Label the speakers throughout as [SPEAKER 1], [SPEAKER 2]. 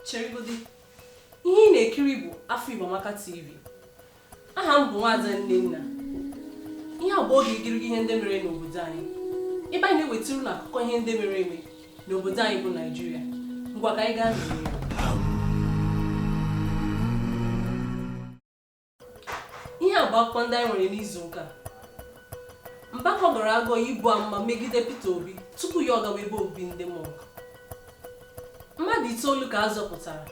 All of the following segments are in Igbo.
[SPEAKER 1] cheregodi ihe ị na-ekiri bụ afọ Igbo Amaka TV aha m bụ nwaada Nnenna ihe a bụ oge igirigi ihe ndị mere n'obodo anyị ebe anyị na-ewetara unu akụkọ ihe ndị mere eme n'obodo anyị bụ Naijiria ngwa ka anyị gaa n'ihu ihe a bụ akụkọ ndị anyị nwere n'izu ụka Mbaka gọrọ agọ ibu amụma megide Peter Obi tupu ya ọ gawa ebe obibi ndị mọnk mmadụ itoolu ka a zọpụtara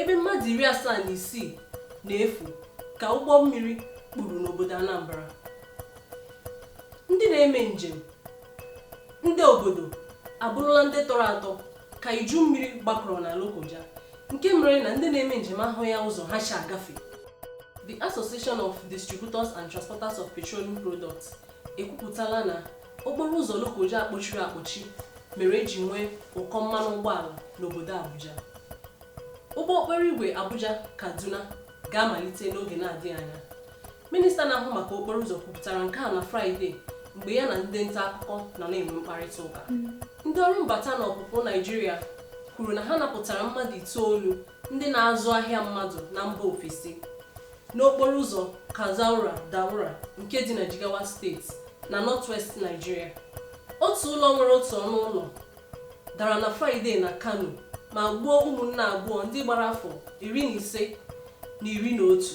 [SPEAKER 1] ebe mmadụ iri asaa na isii na-efu ka ụgbọ mmiri kpuru n'obodo Anambra ndị na-eme njem ndị obodo abụrụla ndị tọrọ atọ ka iju mmiri gbakọrọ na Lokoja nke mere na ndị na-eme njem ahụghị ụzọ ha si agafe The Association of Distributors and Transporters of Petroleum Products ekwupụtala na okporo ụzọ Lokoja a kpọchiri akpọchi mere e ji nwee ụkọ mmanụ ụgbọala n'obodo Abuja ụgbọ okporo igwe Abuja Kaduna ga-amalite n'oge na-adịghị anya minista na-ahụ maka okporo ụzọ kwupụtara nke a na fraịde mgbe ya na ndị nta akụkọ nọ na-enwe mkparịta ụka ndị ọrụ mbata na ọpụpụ naijiria kwuru na ha napụtara mmadụ itoolu ndị na-azụ ahịa mmadụ na mba ofesi n'okporo ụzọ kazaura daura nke dị na jigawa steeti na northwest naijiria otu ụlọ nwere otu ọnụ ụlọ dara na fraịde na kano ma gbuo ụmụnne abụọ ndị gbara afọ iri na ise na iri na otu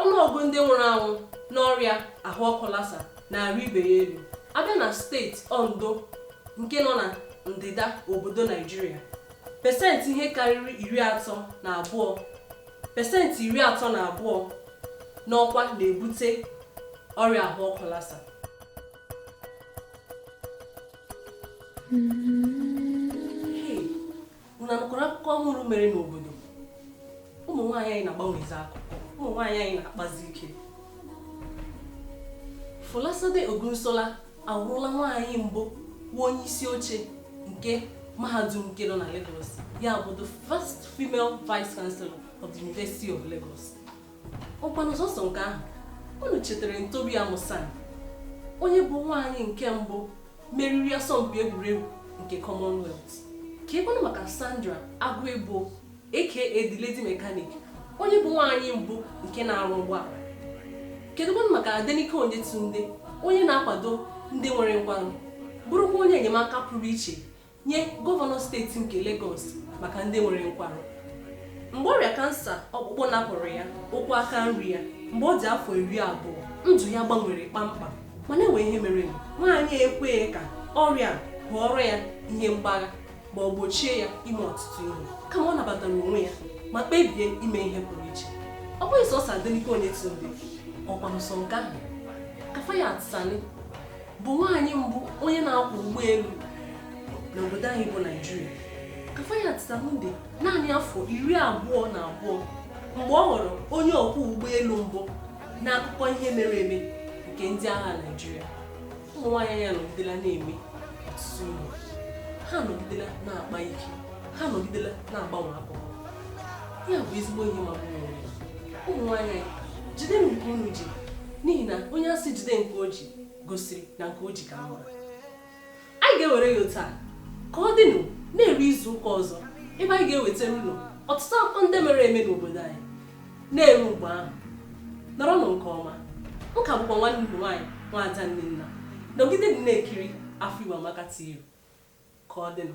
[SPEAKER 1] ọnụọgụ ndị nwụrụ anwụ n'ọrịa ahụ ọkụ Lassa na-arị ibe ya elu a bịa na steeti Ondo nke nọ na ndịda obodo Naijiria pesenti ihe karịrị pesenti iri atọ na abụọ nọkwa na-ebute ọrịa ahụ ọkụ Lassa. Unu anụkwara akụkọ ọhụrụ mere n'obodo? Ụmụ nwaanyị anyị na-agbanwezi akụkọ. Ụmụ nwaanyị anyị na-akpazi ike. Folasade Ogunsola awụrụla nwaanyị mbụ bụ onye isi oche nke mahadum nke nọ na Lagos. Ya bụ the first female vice chancellor of the University of Lagos. Ọkwanụ sọsọ nke ahụ, unu chetara Tobi Amusan, onye bụ nwaanyị nke mbụ meriri asọmpi egwuregwu nke Commonwealth keekwanụ maka Sandra Aguebor aka the lady mechanic onye bụ nwaanyị mbụ nke na-arụ ụgbọala kedụkwanụ maka Adenike Oyetunde onye na-akwado ndị nwere nkwarụ bụrụkwa onye enyemaka pụrụ iche nye gọvanọ steeti nke Legọs maka ndị nwere nkwarụ mgbe ọrịa kansa ọkpụkpụ napụrụ ya ụkwụ aka nri ya mgbe ọ dị afọ iri abụọ ndụ ya gbanwere kpamkpam mana enwe ihe merenụ nwaanyị a ekweghị ka ọrịa ghọọrọ ya ihe mgbagha ma ọ gbochie ya ime ọtụtụ ihe kama ọ nabatara onwe ya ma kpebie ime ihe pụrụ iche ọ bụghị sọsọ Adenike Oyetunde ọkwa nsọ nke ahụ Kafayat Sani bụ nwaanyị mbụ onye na-akwọ ụgbọelu n'obodo anyị bụ Naijiria Kafayat Sani dị naanị afọ iri abụọ na abụọ mgbe ọ ghọrọ onye ọkwọ ụgbọelu mbụ n'akụkọ ihe mere eme nke ndị agha Naijiria ụmụ nwaanyị anọgidela na-eme ọtụtụ ihe ha nọgidela na-akpa ike ha nọgidela na-agbanwe akụkọ ya bụ ezigbo ihe ọma ụmụ nwaanyị jide nke unu ji n'ihi na onye a sị jide nke o ji gosiri na nke o ji ka mma anyị ga-ewere ya otu a ka ọ dịnụ na-eru izu ụka ọzọ ebe anyị ga-ewetara unu ọtụtụ akụkọ ndị mere eme n'obodo anyị na-eru mgbe ahụ nọrọnụ nke ọma m ka bụkwa nwanne unu nwaanyị nwaada Nnenna nọgidenụ na-ekiri afọ Igbo Amaka TV ka ọ dịnụ